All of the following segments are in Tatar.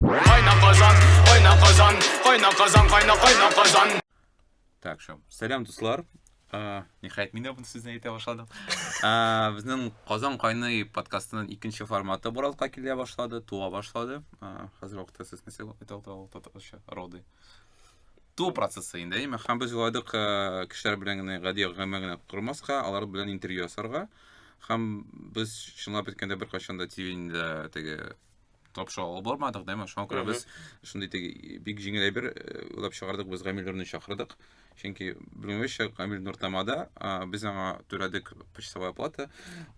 Кайна казан, кайна казан, кайна казан, кайна кайна казан. Так, шо. Сәлам дуслар. Э, Нихәят мин дә бу сүзне әйтә башладым. Э, Безнең Казан кайный подкастының икенче форматы Боралка килә башлады, туа башлады. Э, Хәзер вакытта сез нәрсә әйтәлтә роды. Ту процессы инде, әйме? Һәм без уйладык э, кешеләр белән генә гади гамәл генә кормаска, алар белән интервью ясарга. Һәм без чынлап әйткәндә беркайчан да телевидениедә теге тапшыра алып бармадык дәме шуңа күрә без шундый теге бик җиңел әйбер э, уйлап чыгардык без гамил нурны чакырдык чөнки белмәвемчә гамил нур тамада без аңа түләдек почасовая плата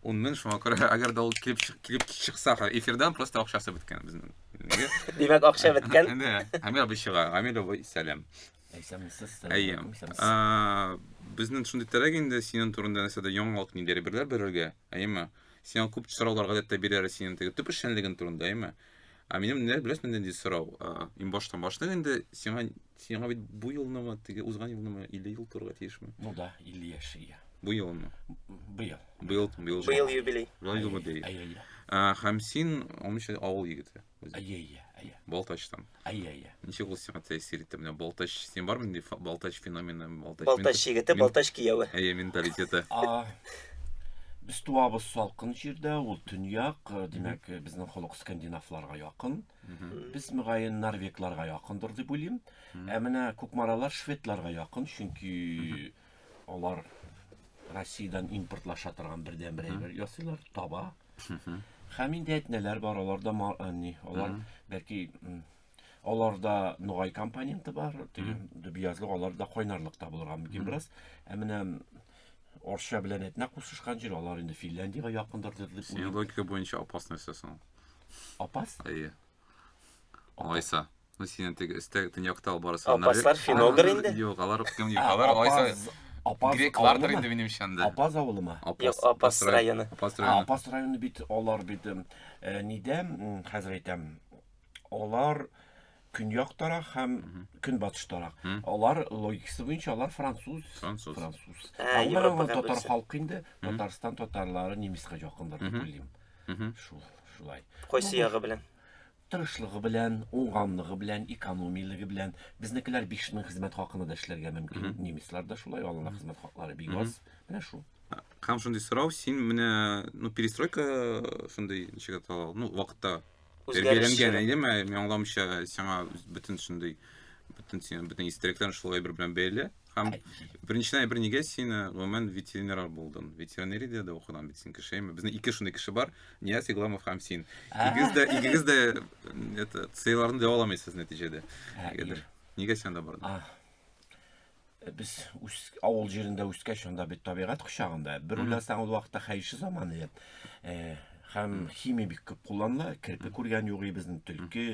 ун мең шуңа күрә әгәр дә ул килеп килеп чыкса эфирдан просто акчасы беткән безнең димәк акча беткән гамил абый чыга гамил абый сәлам Әйсәмсез. Әйем. Безнең шундый терәк инде синең турында нәрсәдә яңалык нидер берләр бирергә. Әйеме? Сиңа күп сораулар гадәттә бирәре синең теге төп эшчәнлеген турында, әйеме? Ә минем менә беләсең нинди сорау? Иң баштан башлык инде сиңа сиңа бит бу елнымы, теге узган елнымы 50 ел турга тиешме? Ну да, 50 яшь ия. Бу елмы? Быел. Быел, быел. Быел юбилей. Быел юбилей. Һәм син 13 авыл егете. Без... Әйе, әйе, әйе. Балтачтан. Әйе, әйе. Ничек ул сиңа тәэсир итте? Менә Балтач, син бармы инде Балтач феномены, Балтач... Балтач егете, Балтач кияүе. Әйе, менталитеты. Без туабыз салкын җирдә, ул төньяк, э, димәк, э, безнең холык скандинавларга якын. Без мөгаен норвегларга якындыр дип уйлыйм. Ә менә кукмаралар шведларга якын, чөнки Алар Россиядән импортлаша торган бердәнбер әйбер ясыйлар, таба. Һәм инде әтнәләр бар, аларда ни, алар бәлки аларда нугай компоненты бар, теге дөбиязлык аларда кайнарлык та булырга мөмкин бераз. Ә менә Орча белән әтнә кушышкан җир, алар инде Финляндиягә якындыр дип. Синең логика буенча опасный сәсен. Опас? Әйе. Алайса. Ну, синен теге өстә төньякта алып барасы. Апаслар финогр инде? Юк, алар кем юк, алар алайса греклардыр инде минем ишәндә. Апаз авылы ма? Апаз, Апаз районы. Апаз районы. Апаз районы бит алар бит э, нидә хәзер әйтәм. Алар көньяк тарак һәм көнбатыш тарак. Алар логикасы буенча алар француз. Француз. Француз. Ә, Европа татар халкы инде Татарстан татарлары немецка якындыр дип уйлыйм. Шул, шулай. Кайсы ягы белән? Тырышлыгы белән, уңганлыгы белән, экономиялеге белән. Безнекеләр 5000 хезмәт хакына да эшләргә мөмкин. Немецлар да шулай, аларның хезмәт хаклары бик аз. Менә шул. Һәм шундый сорау, син менә, ну, перестройка шундый ничек атала, ну, вакытта тәрбияләнгән идеме, мин аңламыйча, сиңа бөтен шундый, бөтен син, бөтен истәлекләрең шул әйбер белән бәйле. Һәм беренчедән әйбер нигә син э, гомумән ветеринар булдың? Ветеринария дә укыган бит син кеше. Әйме? Безнең ике шундый кеше бар, Нияз Игламов һәм син. Икегез дә икегез дә это сыйларны дәва аламыйсыз нәтиҗәдә. Нигәдер. Нигә син анда бардың? Э, Без үс, авыл җирендә үскәч, анда бит табигать кочагында. Бер уйласаң, ул вакытта хәерче заман иде. Э, Һәм химия бик күп кулланыла. Керпе күргән юк и безнең төлке,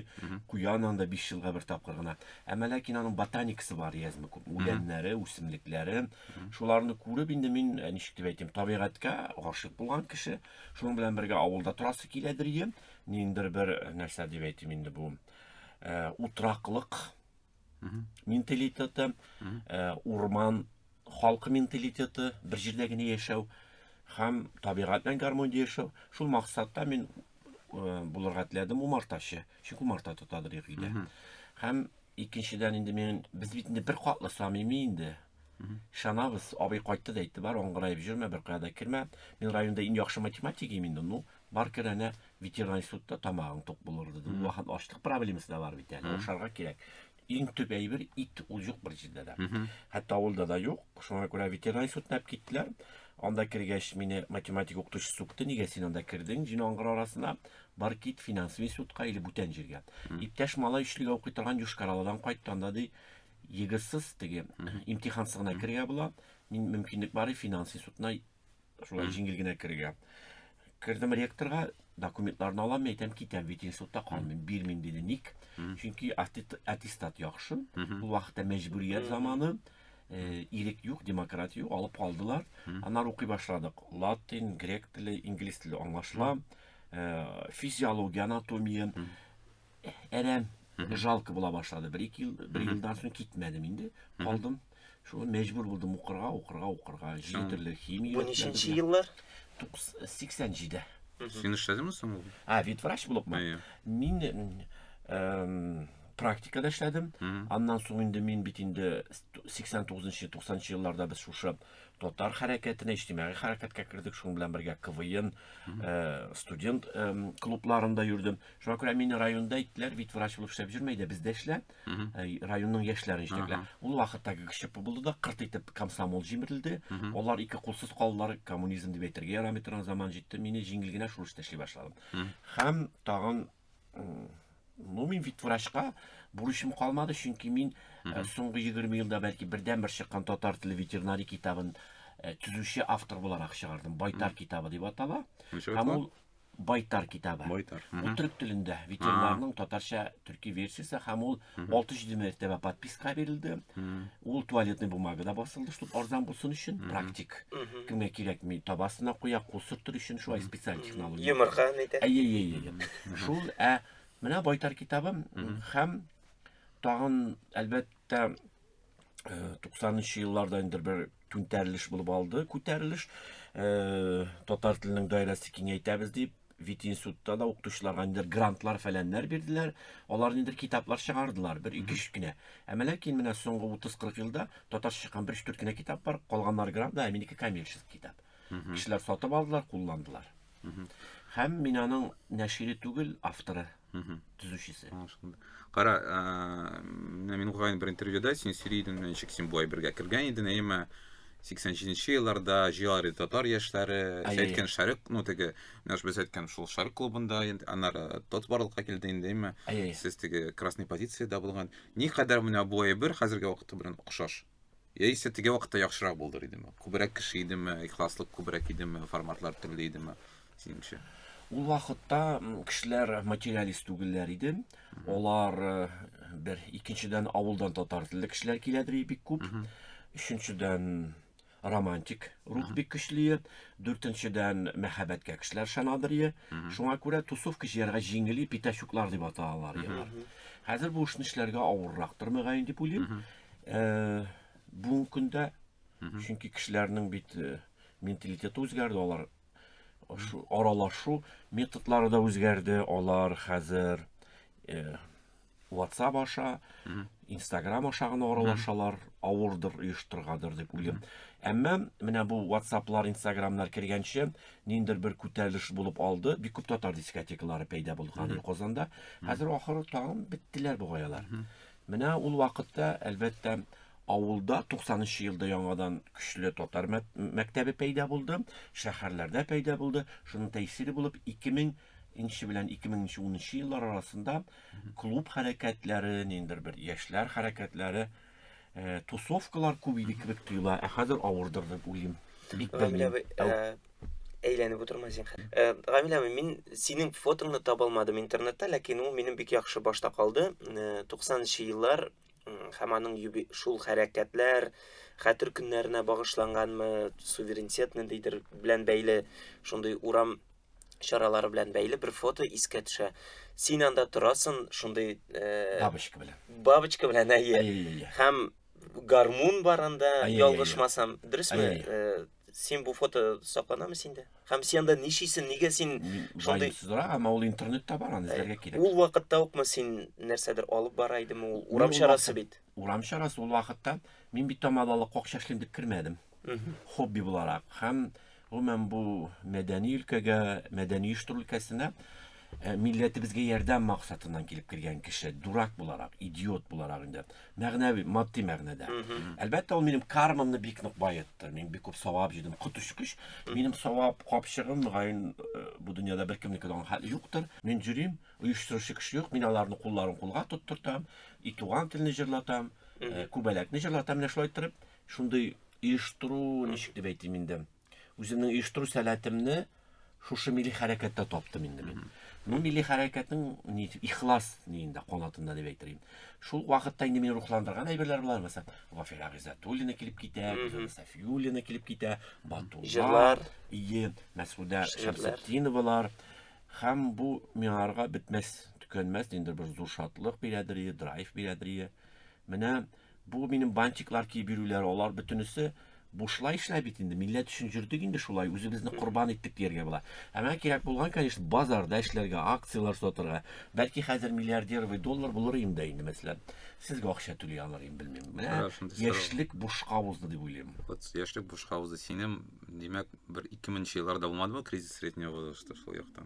куян анда 5 елга бер тапкыр гына. Әмма ләкин аның ботаникасы бар язмы күп. Үләннәре, үсемлекләре. Шуларны күреп инде мин э, ничек дип әйтим, табигатькә гашык булган кеше. Шуның белән бергә авылда торасы киләдер ием. Ниндер бер э, нәрсә дип әйтим инде бу. Э, утраклык менталитеты, э, урман халкы менталитеты, бер җирдә генә яшәү һәм табигать белән гармониядә яшәү. Шул максатта мин э, булырга теләдем умартачы, чөнки умарта тотадыр өйдә. Һәм икенчедән инде мин без бит инде бер катлы самими инде. Шанабыз, абый кайтты да әйтте, бар аңгыраеп җөрмә, бер кая да кермә. Мин районда иң яхшы математик инде, ну, Бар кер әнә ветеринар институтта тамагың тук булыр диде. Ул вакыт ачлык проблемасы да бар бит әле. Ашарга кирәк. Иң төп әйбер ит ул юк бер җирдә дә. Хәтта авылда да юк. Шуңа күрә ветеринар институтына алып киттеләр. Анда кергәч мине математика укытучы сукты. Нигә син анда кердең? Җен аңгыр арасына бар кит финанс институтка или бүтән җиргә. Иптәш малай өчлегә укый торган Юшкараладан кайтты. Анда ди егырсыз теге имтихансыз гына кергә була. Мин мөмкинлек бар финанс институтына Шулай җиңел генә керергә. Кердем ректорга, документларны алам, әйтәм, китәм, бит институтта калмыйм, бирмим диде. Ник? Чөнки аттестат яхшы. Бу вакытта мәҗбүрият заманы, э, ирек юк, демократия юк, алып калдылар. Аннары укый башладык. Латин, грек теле, инглиз теле аңлашыла. Э, физиология, анатомия. әрәм, жалко була башлады. Бер ике ел, бер елдан соң китмәдем инде. Калдым. Шулай мәҗбүр булдым укырга, укырга, укырга. Җиде төрле химия. Бу ниченче еллар? 87-дә. Син эшләдеңме соң ул? А, ветврач булыпмы? Мин эм, практикада эшләдем. Аннан соң инде мин бит инде 89-90 елларда без шушы татар хәрәкәтенә, иҗтимагый хәрәкәткә кердек, шуның белән бергә КВН, э, студент э, клубларында йөрдем. Шуңа күрә мине районда әйттеләр, бит врач булып эшләп йөрмә, әйдә бездә эшлә, э, районның яшьләрен җитәклә. Ул вакытта ГГШП булды да, кырт итеп комсомол җимерелде. Алар ике кулсыз калдылар, коммунизм дип әйтергә ярамый торган заман җитте. Мине җиңел генә шул эштә эшли башладым. Һәм тагын Ну, мин бит врачка бурычым калмады, чөнки мин э, соңгы 20 елда бәлки бердәнбер чыккан татар теле ветеринарий китабын э, төзүче автор буларак чыгардым. Байтар китабы дип атала. Ничек Һәм атала? ул Байтар китабы. Байтар. Ул Мгм. төрек телендә ветеринарның татарча төрки версиясе һәм ул 6-7 мәртәбә подписка бирелде. Ул туалетный бумага да басылды, чтобы арзан булсын өчен, практик. Кемгә кирәкми, табасына куя, кул сөртер өчен шулай специаль технология. Йомырка нидә? Әйе, әйе, әйе. Шул, ә менә Байтар китабы һәм тагын әлбәттә 90-нчы елларда инде бер түнтәрелеш булып алды, күтәрелеш. Э, татар теленең даирәсе киңәйтәбез дип, вит институтта да укытучыларга инде грантлар фәләннәр бирделәр. Алар инде китаплар чыгардылар, бер ике үч кенә. Ә ләкин менә соңгы 30-40 елда татарча чыккан бер үч кенә китап бар, калганнар грант, да, ә минеке коммерческий китап. Кешеләр сатып алдылар, кулландылар. Һәм мин аның нәшире түгел, авторы, төзүчесе. Кара, менә мин укыган бер интервьюда син сөйли идең, ничек син болай бергә кергән идең, әйеме? 87-нче елларда җыялар иде татар яшьләре. Сез әйткән Шәрык, ну теге, менә без әйткән шул Шәрык клубында, аннары тот барлыкка килде инде, әйеме? Сез теге красный позициядә булган. Никадәр менә бу әйбер хәзерге вакыты белән охшаш? Яисә теге вакытта яхшырак булдыр идеме? Күбрәк кеше идеме, ихласлык күбрәк идеме, форматлар төрле идеме? Синеңчә? Ул вакытта кешеләр материалист түгелләр иде. Алар э, бер икенчедән авылдан татар телле кешеләр киләдер бик күп. Өченчедән романтик рух бик көчле. Дүртенчедән мәхәббәткә кешеләр шанадыр. Шуңа күрә тусовка җыярга җиңел, питачуклар дип аталар. Хәзер бу эшне эшләргә авыррактыр мөгаен дип уйлыйм. Бүгенге көндә, чөнки кешеләрнең бит менталитеты үзгәрде, алар аралашу методлары да үзгәрде, алар хәзер WhatsApp аша, Instagram аша гына аралашалар, авырдыр оештыргадыр дип уйлыйм. Әмма менә бу WhatsApp-лар, Instagram-лар кергәнче, ниндер бер күтәрелеш булып алды. Бик күп татар дискотекалары пәйда булган Казанда. Хәзер ахыры тагын беттеләр бугаялар. Менә ул вакытта, әлбәттә, авылда 90 нчы елда яңадан көчле татар мәктәбе пәйда булды, шәһәрләрдә пәйда булды. Шуның тәэсире булып 2000 нче белән 2010 нчы еллар арасында клуб хәрәкәтләре, ниндер бер яшьләр хәрәкәтләре, э, тусовкалар күп иде кебек тоела, ә хәзер авырдыр дип уйлыйм. Бик белмим. әйләнеп утырма зинхар. Э, Гамилә, мин синең фотоңны таба алмадым интернетта, ләкин ул минем бик яхшы башта калды. 90нчы э, еллар һәм аның шул хәрәкәтләр хәтер көннәренә багышланганмы, суверенитет ниндидер белән бәйле, шундый урам чаралары белән бәйле бер фото искә төшә. Син анда торасың, шундый э, бабочка белән. Бабочка белән әйе. Һәм гармун бар анда, ялгышмасам, дөресме? син бу фото сакланамы синдә һәм син анда ничисең нигә син шундый сызрак әмма ул интернетта бар аны эзләргә э, кирәк ул вакытта укмы син нәрсәдер алып бара идеме ул урам чарасы бит урам чарасы ул вакытта мин бит тамадалы кок чәчлим дип кермәдем хобби буларак һәм гомумән бу мәдәни өлкәгә мәдәни оештыру өлкәсенә э, милләтебезгә ярдәм максатыннан килеп кергән кеше дурак буларак идиот буларак инде Мәгънәви, матди мәгънәдә. Әлбәттә, ул минем кармамны бик нык баетты. Мин бик күп савап җыйдым. Коточкыч, минем савап капчыгым, мөгаен, э, бу дөньяда беркемнеке дә хәл юктыр. Мин җөрим, оештыручы кеше юк, мин аларны кулларын кулга тоттыртам, и туган телне җырлатам, э, күбәләкне җырлатам, менә шулай торып, шундый оештыру, ничек дип әйтим инде, Үземнең оештыру сәләтемне шушы милли хәрәкәттә таптым инде мин. Ну, милли хәрәкәтнең ни дип ихлас нигендә канатында дип әйтер идем. Шул вакытта инде мине рухландырган әйберләр булар, мәсәлән, Вафира Гыйззатуллина килеп китә, Гөлзада Сафиуллина килеп китә, Батулла, Җырлар. ие, Мәсгудә Шигырьләр. Шәмсетдиновалар. Һәм бу миңарга бетмәс, төкәнмәс ниндидер бер зур шатлык бирәдер, ие, драйв бирәдер, ие. Менә бу минем бантиклар киеп йөрүләр, алар бөтенесе бушлай эшләп бит инде. Милләт өчен җөрдек инде шулай, үзебезне корбан иттек дияргә була. Ә менә кирәк булган, конечно, базарда эшләргә, акцияләр сатырга. Бәлки хәзер миллиардер вы доллар булыр инде инде, мәсәлән. Сезгә акча түли алыр инде, белмим. Менә яшьлек бушка узды дип уйлыйм. Вот яшьлек бушка узды. Синем, димәк, бер 2000 нче елларда булмадымы кризис среднего возраста шул яктан?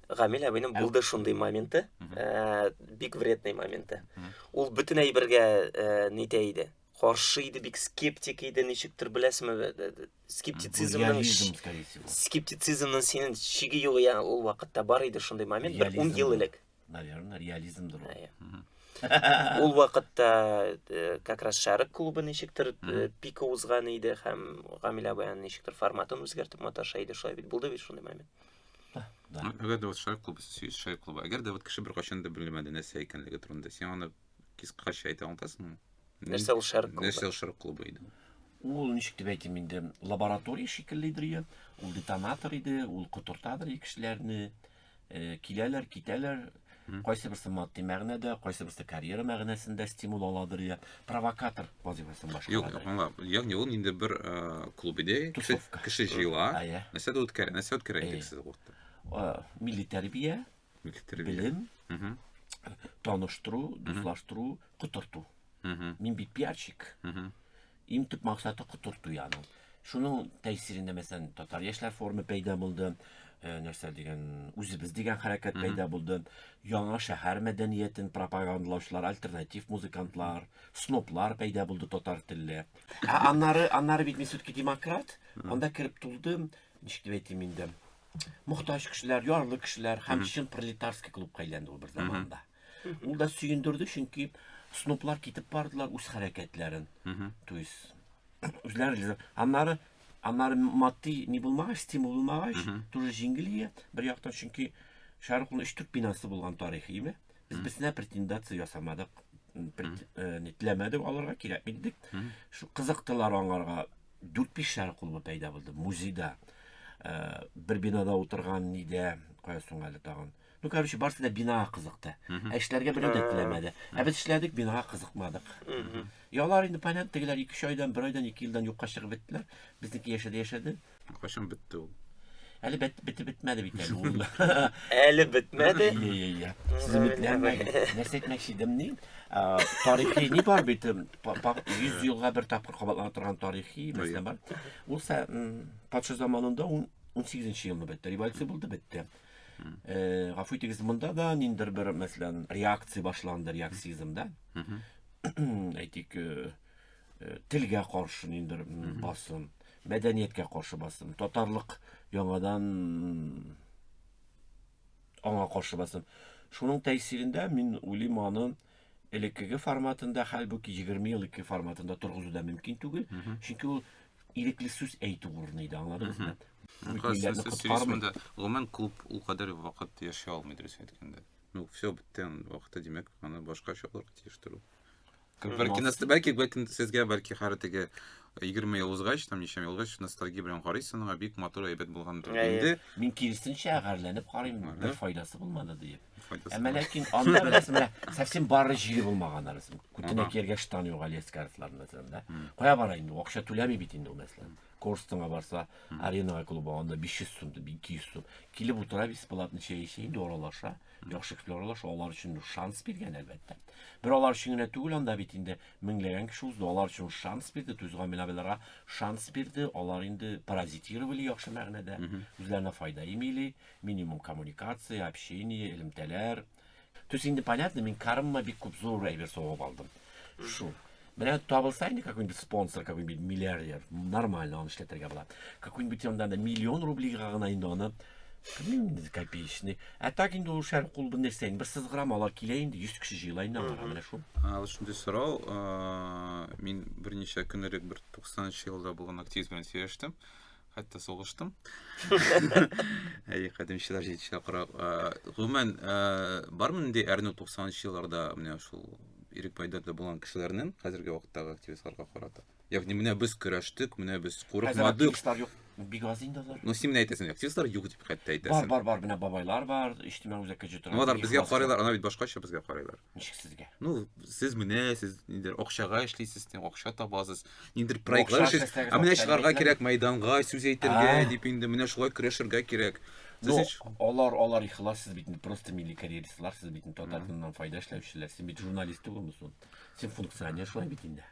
Гамил абыйның булды шундый моменты, э, бик вредный моменты. Ул бөтен әйбергә э, нитә иде. Каршы иде, бик скептик иде, ничектер беләсме, э, э, э, скептицизмның скептицизмның синең чиге юк я ул вакытта бар иде шундый момент, бер 10 ел элек. Наверное, реализмдыр ул. Ул вакытта как раз Шәрык клубы ничектер пика узган иде һәм Гамил абыйның ничектер форматын үзгәртеп маташа иде, шулай бит булды бит шундый момент. Әгәр дә вот шайк клубы, шайк клубы, әгәр дә вот кеше бер качан да белмәде нәрсә икәнлеге турында, син аны кискача әйтә аласыңмы? Нәрсә ул шарк клубы? Нәрсә ул шарк клубы иде? Ул ничек дип әйтим инде, лаборатория шикелледер я, ул детонатор иде, ул котыртадыр кешеләрне, э, киләләр, китәләр, Кайсыберсе матди мәгънәдә, кайсыберсе карьера мәгънәсендә стимул аладыр я провокатор вазифасын башкара. Юк, юк, аңла. Ягъни ул инде бер э, клуб иде. Кеше, кеше җыела. А, я. Нәрсә дә үткәрә, нәрсә үткәрә идек сез вакытта? Милли тәрбия, милли тәрбия. Белем, таныштыру, дуслаштыру, котырту. Мин бит пиарщик. Иң төп максаты котырту яның. Шуның тәэсирендә мәсәлән татар яшьләр форумы пәйда булды. Э, нәрсә дигән үзебез дигән хәрәкәт пәйда булды. Яңа шәһәр мәдәниятен пропагандалаучылар, альтернатив музыкантлар, сноплар пәйда булды татар телле. Ә аннары, аннары бит мин все-таки демократ, анда кереп тулдым, ничек дип әйтим инде. Мохтаҗ кешеләр, ярлы кешеләр һәм чын пролетарский клубка әйләнде ул бер заманда. Ул да сөендерде, чөнки сноплар китеп бардылар үз хәрәкәтләрен. То есть үзләре аннары аннары матди ни булмагач, стимул булмагач, тоже җиңелие бер яктан, чөнки Шәрыкның өч төп бинасы булган тарихи име. Без берсенә претендация ясамадык, э, нитләмәдек, аларга кирәкми дидек. Шу кызыктылар аңарга. Дүрт биш шәрык клубы пәйда булды музейда. Э, бер бинада утырган нидә, кая соң әле тагын. Ну, короче, барысы да бинага кызыкты. Ә эшләргә берәү дә теләмәде. Ә без эшләдек, бинага кызыкмадык. Ялар инде, понятно, тегеләр 2 айдан, 1 айдан, 2 елдан юкка чыгып беттеләр. Безнеке яшәде, яшәде. Кайчан бетте ул? Әле бет, бите бетмәде бит әле ул. Әле бетмәде. Иә, иә, иә. Сез үметләнмәгез. Нәрсә әйтмәкче идем ни? А, Тарихи ни бар бит? 100 елга бер тапкыр кабатлана торган тарихи мәсьәлә бар. Ул са- м, патша заманында ун- 18 елны бетте. Революция булды, бетте. Э, гафу итегез, монда да ниндер бер, мәсәлән, реакция башланды, реаксизм да. Әйтик, э, э, телгә каршы ниндер басым, мәдәнияткә каршы басым, татарлык яңадан аңа каршы басым. Шуның тәэсирендә мин уйлыйм аны Элеккеге форматында, хәлбуки 20 ел ике форматында торгызу да мөмкин түгел, чөнки ул ирекле сүз әйтү урыны иде, аңладыгызмы? Сөйләшмәдә, гомумән, клуб ул кадәр вакыт яши алмый, дөрес әйткәндә. Ну, все, бетте, вакыты, димәк, аны башка чалырга тиеш тору. Бәлки, бәлки, бәлки, сезгә, бәлки, хәрі теге 20 ел узгач, там ничә ел узгач, ностальгия белән карыйсың, аңа бик матур әйбәт булган. Инде мин киресенчә гарьләнеп карыйм, бер файдасы булмады диеп. Әмма ләкин анда беләсең, менә совсем бары җире булмаган арысын. Күтенә кергә штан юк Алиэс картларында да. Кая бара инде? Акча түләми бит инде ул мәсәлән. Корстыңа барса, аренага клубы анда 500 сум, 200 сум. Килеп утыра бесплатно чәй эчә, инде аралаша. Яхшы кеше аралаша, алар өчен шанс биргән әлбәттә. Бер алар өчен генә түгел анда бит инде меңләгән кеше узды, алар өчен шанс бирде, тузган милабелара шанс бирде, алар инде паразитировали яхшы мәгънәдә, үзләренә файда имили, Минимум коммуникация, общение, элемтәләр. Төс инде понятно, мин кармма бик күп зур әйбер согып алдым. Шул. Менә табылса инде какой-нибудь спонсор, какой-нибудь миллиардер, нормально аны эшләтергә була. Какой-нибудь анда да миллион рублига гына инде аны кемнең копеечный. Ә так инде ул шәр кул бу нәрсә инде бер сызгырамалар килә инде 100 кеше җыела инде аңа менә шул. Аңа шундый сорау, мин берничә көн элек бер 90 елда булган активист белән сөйләштем. хәтта сугыштым. Әй, кадимчеләр җитешә карап. Гомумән, бармы нинди әрнү 90-нчы елларда менә шул ирек пайдада булган кешеләрнең хәзерге вакыттагы активистларга карата? Ягъни менә без көрәштек, менә без курыкмадык. Бик аз инде алар. Ну, син менә әйтәсең, активистлар юк дип хәтта әйтәсең. Бар, бар, бар, менә бабайлар бар, иҗтимагый үзәккә җитә. Ну, алар безгә карыйлар, ана бит башкача безгә карыйлар. Ничек сезгә? Ну, сез менә, сез нидер акчага эшлисез, тем акча табасыз. Нидер проектлар эшлисез. Ә менә чыгарга кирәк мәйданга, сүз әйтергә дип инде менә шулай көрәшергә кирәк. Ну, алар, алар ихлас, сез бит просто милли карьеристлар, сез бит татарстаннан файда эшләүчеләр, сез бит журналист түгелме сон? Сез функционер шулай бит инде.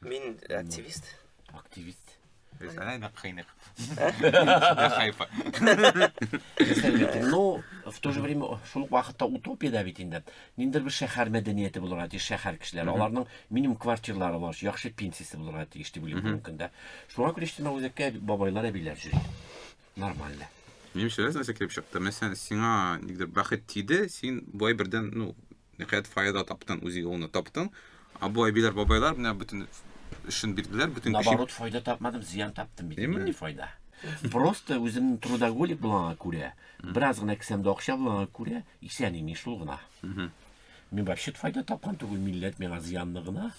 Мин активист. Активист. Представляй, на хайнах. На хайпа. Ну, в то же время, шул ук вакытта утопия да бит инде. Ниндер бер шәһәр мәдәнияте булырга тиеш, шәһәр кешеләре. Аларның минимум квартирлары бар, яхшы пенсиясе булырга тиеш дип уйлыйм бүгенге көндә. Шуңа күрә иштемә үзәккә бабайлар, әбиләр йөри. Нормально. Минемчә, нәрсә килеп чыкты? Мәсәлән, сиңа нидер бәхет тиде, син бай бердән, ну, Ниһаять файда таптың, үзе юлны таптың. Ә бу әбиләр, бабайлар менә бүтін өчен бирделәр, бүтін көчен. Наоборот, файда тапмадым, зиян таптым бит. Нинди файда? Просто үземнең трудоголик булганга күрә, бераз гына кесәмдә акча булганга күрә, исән имин шул гына. Мин вообще файда тапкан түгел, милләт миңа зыянны гына.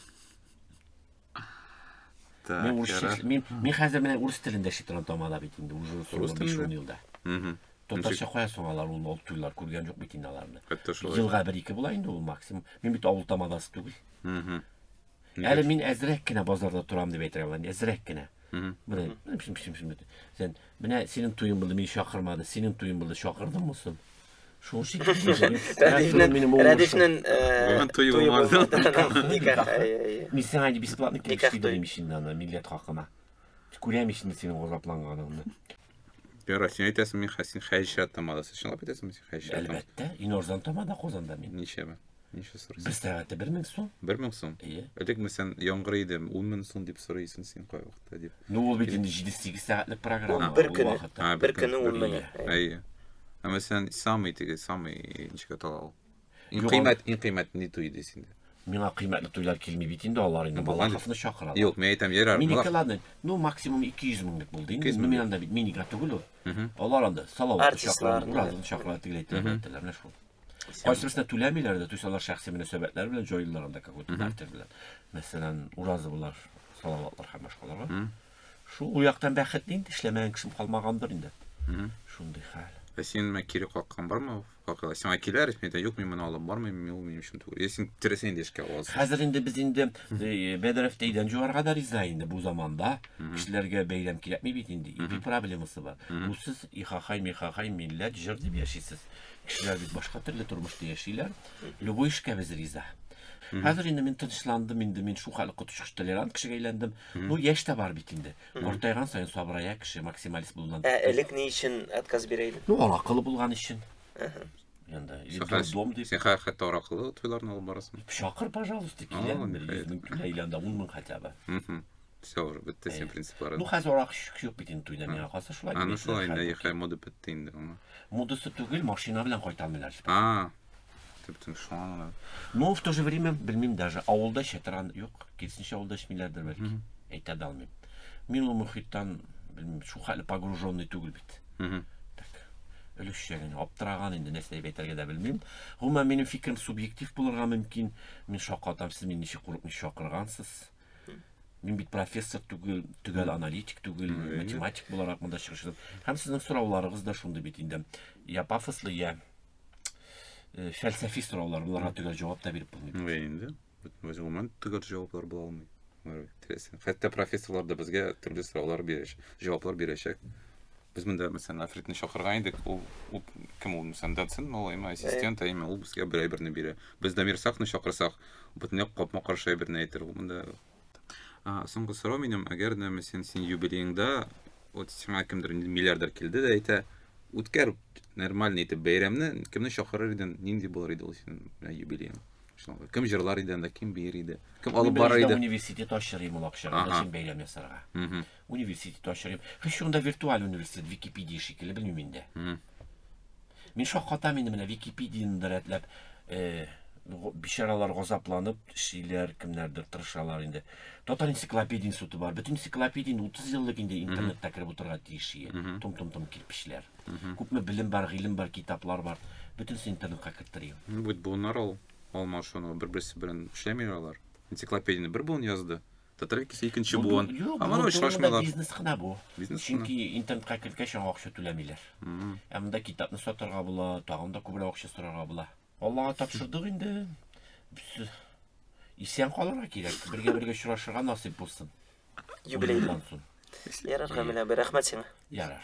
Так, Мин урысча ярар. эшли- мин мин хәзер менә урыс телендә эшли торган тамада бит инде уже Рус соңгы 5 телендә? елда. Мгм. Татарча кая соң алар ул ул туйлар күргән юк бит инде аларны. Хәтта шулай. Елга бер ике була инде ул максимум. Мин бит авыл тамадасы түгел. Мгм. Әле мин әзрәк кенә базарда торам дип әйтә алам. Әзрәк кенә. Мгм. Менә шим шим шим. Сен менә синең туең булды, мине чакырмады. Синең туең булды, чакырдым мусын. Шул шикелле. Рәдифнен, минем уңышым. Рәдифнен Бүген туй булмады. Никах, әйе, әйе. Мин сиңа инде бесплатно килеш дидем ич инде аны милләт хакына. Күрәм ич инде синең газапланганыңны. Яра, син әйтәсең, мин хәсин хәҗәт тамадасы. Чынлап әйтәсеңме син хәҗәт тамадасы? Әлбәттә, иң арзан тамада Казанда мин. Ничәме? Ничә сорыйсың? Бер сәгатьтә бер мең сум. Бер мең сум? Иә. Элек мен сән яңгыр иде, ун мең сум дип сорыйсың син кай вакытта дип. Ну ул бит инде 7-8 сәгатьлек программа. Бер көне, бер көне ун мең. Әйе. Ә мен сән самый теге, самый ничек атала ул? Иң кыйммәт, иң кыйммәт ни туй иде синде? Миңа кыйммәтле туйлар килми бит инде алар инде. Балаховны чакыралар. Юк, мен әйтәм, ярар. Минеке ладно. Ну максимум 200 мең дип булды инде. Ну мин анда бит минига түгел ул. Алар анда салават чакыралар, уразын чакыралар, тегеләйтәләр, әйтәләр, менә шул. Кайсыбызда түләмиләр дә, түсәләр шәхси мөнәсәбәтләр белән җайлылар анда какой-то бартер белән. Мәсәлән, уразы булар, салаватлар һәм башкаларга. Шул у яктан бәхет инде, эшләмәгән кешем калмагандыр инде. Шундый хәл. Ә син мә кире каккан бармы? Какыла. Син ай киләр, син дә юк, мин моны алып бармыйм, мин мин өчен түгел. Если син тирәсен инде эшкә аласың. Хәзер инде без инде э, Бәдәров тәйдән җуарга да риза инде бу заманда. Кешеләргә бәйләм кирәкми бит инде. Ипи проблемасы бар. Бу сез ихахай, михахай, милләт, җыр дип яшисез. Кешеләр бит башка төрле тормышта яшиләр. Любой эшкә без риза. Хәзер инде мин тынычландым, инде мин шул хәл коточкыч толерант кешегә әйләндем. Ну, яшь тә бар бит инде. Картайган саен сабырая кеше, максималист булган. Ә элек ни өчен отказ бирә идең? Ну, аракылы булган өчен. Енді, енді дом деп. Сен хәтта аракылы тойларын алып барасың. Шақыр, пожалуйста, келемін. Жүз мың түләйләнді, он мың хотя бы. Все уже бетте сен принциплары. Ну хәзер арак шук бит инде туйда миңа калса шулай. Аны шулай инде яхай мода бетте инде аңа. Модасы түгел, машина белән кайталмыйлар. А. Төптем шуңа. Ну в то же время белмим даже авылда чатыран юк. Кирсенчә авылда эчмиләрдер бәлки. Әйтә дә алмыйм. Мин ул мөхиттан белмим шул хәле погруженный түгел бит. Угу. Өлешчә генә аптыраган инде нәрсә дип әйтергә дә белмим. Гомумән минем фикерем субъектив булырга мөмкин. Мин шакатам, сез мине ничек курыкмый шакыргансыз. Угу. Мин бит профессор түгел, төгәл аналитик түгел, Әйе. математик буларак монда чыгыш ясадым. Һәм сезнең сорауларыгыз да шундый бит инде. Я пафослы, я э, фәлсәфи сораулар, буларга төгәл җавап та биреп булмый. Әйе инде. Гомумән төгәл җаваплар була алмый. Хәтта профессорлар да безгә төрле сораулар бирәчәк, җаваплар бирәчәк. Без монда, мәсәлән, Афритны чакырган идек. Ул, ул кем ул, мәсәлән, доцент, ул именно ассистент, ә именно ул безгә бер әйберне бирә. Без Дамир Сафны чакырсак, бөтенләй капма каршы әйберне әйтер. Ул монда А, соңгы сорау минем, әгәр дә мәсәлән син юбилееңда вот сиңа кемдер миллиардер килде дә әйтә, үткәр нормальный итеп бәйрәмне, кемне чакырыр идең, нинди булыр иде ул синең белән юбилеең? Шулай. Кем җырлар иде анда, кем биер иде? Кем алып барыр иде? Университет ачыр идем ул акчага, Ага. өчен бәйләм ясарга. Мгм. Университет ачык дип. Хис шунда виртуаль университет Википедия шикелле белмим инде. Мин шаккатам инде менә Википедияны да рәтләп э, го- бичаралар газапланып эшлиләр, кемнәрдер тырышалар инде. Татар энциклопедия институты бар. Бөтен энциклопедия инде 30 еллык инде интернетта кереп утырырга тиеш. Том-том-том кирпечләр. Күпме белем бар, гыйлем бар, китаплар бар. Бөтенесе интернетка керттерим. Ну, бит буыннар ул алмашыну, бер-берсе белән эшләмиләр алар. Энциклопедияне бер буын язды, Татар икесе икенче Бу- буын. Юк, Аңа бу- бу очрашмыйлар. монда бизнес кына бу. Бизнес кына. Чөнки интернетка кергәч аңа акча түләмиләр. Мгм. Ә монда китапны сатарга була, тагын да күбрәк акча сорарга була. Аллага тапшырдык инде. Без- Исән калырга кирәк. Бергә бергә очрашырга насыйп булсын. Юбилей. Уеннан соң. Ярар, Камилә, бер рәхмәт сиңа. Ярар.